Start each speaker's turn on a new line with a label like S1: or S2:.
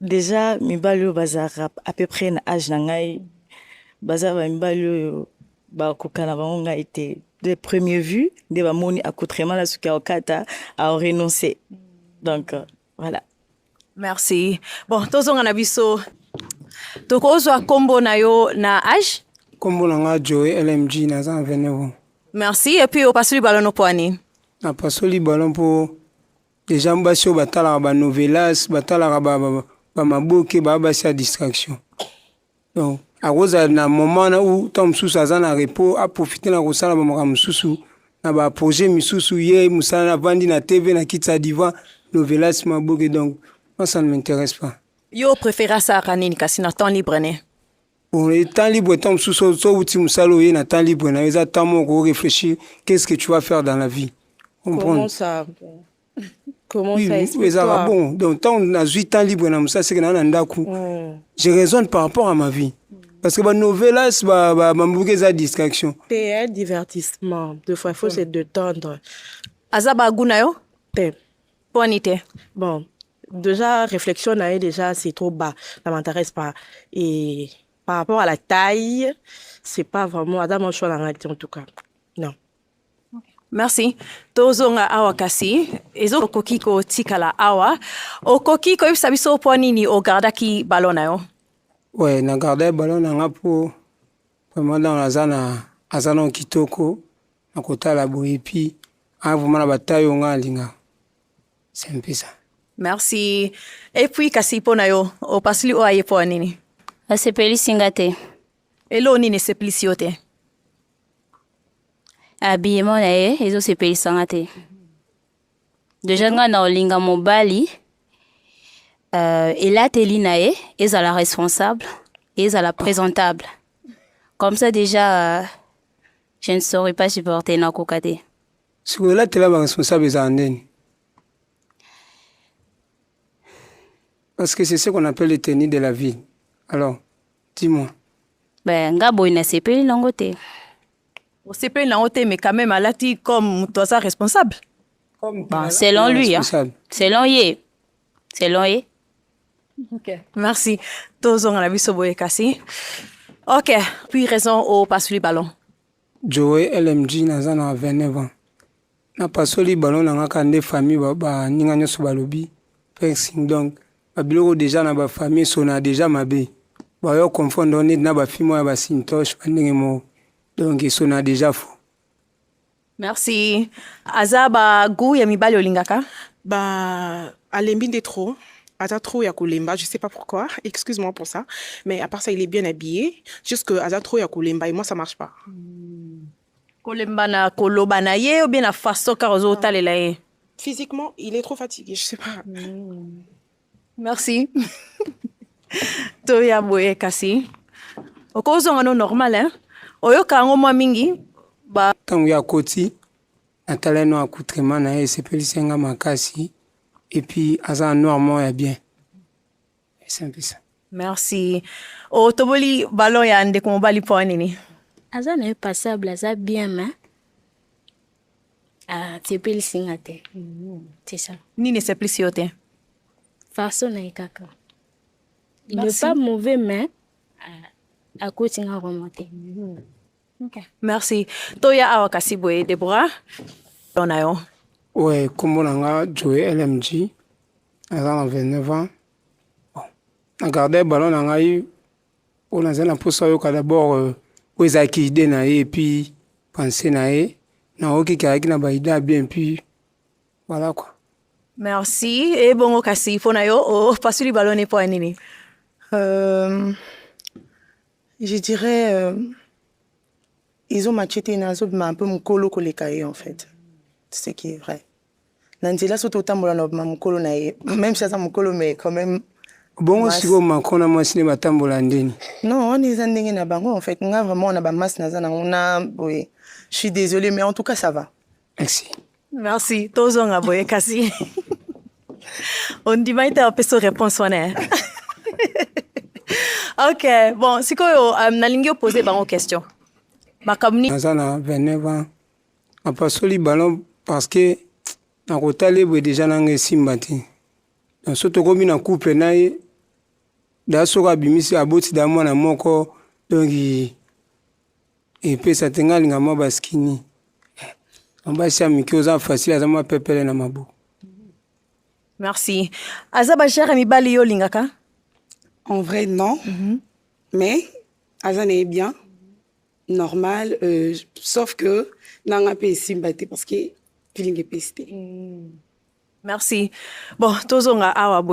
S1: Deja mibali oyo bazalaka à peu près na age na ngai baza ba mibali oyo bakoka na bango ngai te de premier vue nde bamoni accoutrement na suki ya okata au renoncer donc euh, voilà merci
S2: bon tozonga na biso tokozwa nkombo na yo na age nkombo na ngai
S3: joe lmg naza na 29 merci epuis
S2: opasoli balo noko ani napasoli
S3: balo mpo Les gens basi oyo batalaka ba novelas, batalaka ba, ba, ba maboke, ba basi ya distraction. Donc, akozala na moment na ou temps mosusu aza na repos, aprofite na kosala ba makambo mosusu na ba projet misusu ye mosala na vandi na TV na kiti ya divan novelas maboke donc moi ça ne m'intéresse pas. Yo prefera
S2: asaka nini kasi na temps libre ne? Bon, et
S3: temps libre, et temps mosusu, so outi mosala oye na temps libre na yo, eza temps moko réfléchir, qu'est-ce que tu vas faire dans la vie? Comment ça?
S4: Comment oui, ça explique toi?
S3: bon,
S4: donc
S3: tant on a 8 ans libre na mosala, c'est que na na ndaku. Mm. Je raisonne par rapport à ma vie. Mm. Parce que bah, novelas, bah, bah, bah, bah, distraction. C'est un
S4: divertissement. Deux fois, il faut ouais. se détendre. Azaba
S2: Gunayo? Te. Bonite. Bon.
S4: Déjà, réflexion nae déjà, c'est trop bas. Ça m'intéresse pas. Et par rapport à la taille, c'est pas vraiment. Adam, mon choix, en tout cas. Non.
S2: merci tozonga awa kasi ezokoki kotikala awa okoki koyebisa biso mpo nini ogardaki balo na yo we na
S3: garde balo na nga mpo vraiment donc aza na aza na kitoko na kotala boye epi aa vraiment na bataille oyo nga alingaka C'est un peu ça. Merci.
S2: Et puis kasi pona yo, opasli o aye po nini? Asepelisi nga
S5: te. Elo nini
S2: esepelisi yo te?
S5: Habillement na ye ezosepelisa nga te. Deja nga na olinga mobali euh, elateli na ye ezala responsable ezala présentable comme ça déjà euh, je ne saurais pas supporter nakoka te sikoyo elatela
S3: ba responsable ezala ndeni parce que c'est ce qu'on appelle le tenue de la ville alors dis-moi ben
S5: nga boye nasepeli nango te
S2: osepeli nango te mais quand même alati comme moto aza responsable comme bon,
S5: selon lui hein. selon ye selon ye okay.
S2: merci tozonga na biso boye kasi ok puis raison au passe lui ballon Joe
S3: LMG naza na 29 ans na pasoli ballon na nga ka nde famille ba, ba ninga nyonso balobi fencing donc ba biloko deja na ba famille sona deja mabe ba yo confondre neti na ba film ya ba sintosh ba ndenge mo donc sona deja fo Merci.
S2: Aza ba goût ya mibali olingaka? Ba
S4: alembi nde trop. aza trop ya kolemba je sais pas pourquoi excuse moi pour ça mais à part ça il est bien habillé juste que aza trop ya kolemba et moi ça marche pas hmm.
S2: kolemba na koloba na ye ou bien na façon car ozo otalela ye physiquement il est
S4: trop fatigué je sais pas hmm.
S2: merci toya boye kasi okozonga no normal hein oyoka yango mwa mingi ba ntango ya koti
S3: Natala no accoutrement na ye esepelisi nga makasi et puis aza noir moko ya bien esempisa merci
S2: otoboli oh, balo ya ndeko mobali mpo nini aza na ye
S5: passable aza bien ma asepelisi ah, nga te mm-hmm. c'est ça nini esepelisi yo te
S2: façon
S5: na ye kaka il n'est pas mauvais mais akoti nga vraiment te mm-hmm.
S2: Okay. Merci. Toya awa kasi boye Deborah. Dona yo. Ouais, kombo
S3: na nga Joe LMG. Naza na 29 ans. Bon. Na garde ballon na ngai oyo naza na mposa oyoka d'abord euh, oyo ezalaki ide na ye epuis pense na ye naoki keyaki na baide ya bien epuis voilà quoi merci
S2: ebongo kasi mpo na yo opasuli oh, balone mpo ya nini euh,
S4: Je dirais euh, ils ont machete na zo ma un peu mukolo ko leka ye en fait. C'est ce qui est vrai. Na nzela so to tambola na ma mukolo na ye. Même si aza mukolo mais quand même bongo
S3: sikoyo macron na mwasi nde batambola ndeni non wana eza
S6: ndenge na bango en fait nga vraiment na bamasse naza nango na boye je suis désolé mais en tout cas ça va merci
S3: Merci.
S2: Tozonga boye kasi. Ondima ite apeso réponse wana. Eh? ok, bon, sikoyo um, nalingi opose bango question. Makambo nini? Naza na 29 ans.
S3: Napasoli ballon parce que nakotala ye boye deja nanga esimba te. Donc so tokomi na couple na ye da soki abimisi aboti da mwana moko donc Epesa te nga linga mwa baskini. Mabasi ya mike oza facile aza mwa pepele na mabo.
S2: Merci. Aza ba jere mibali yo lingaka? En
S7: vrai non. Mm -hmm. Mais aza na bien normal euh, sauf que nanga pe esimba te parce que feeling
S2: epesi
S7: te. Mm. Merci. Bon,
S2: tozonga
S7: awa boye.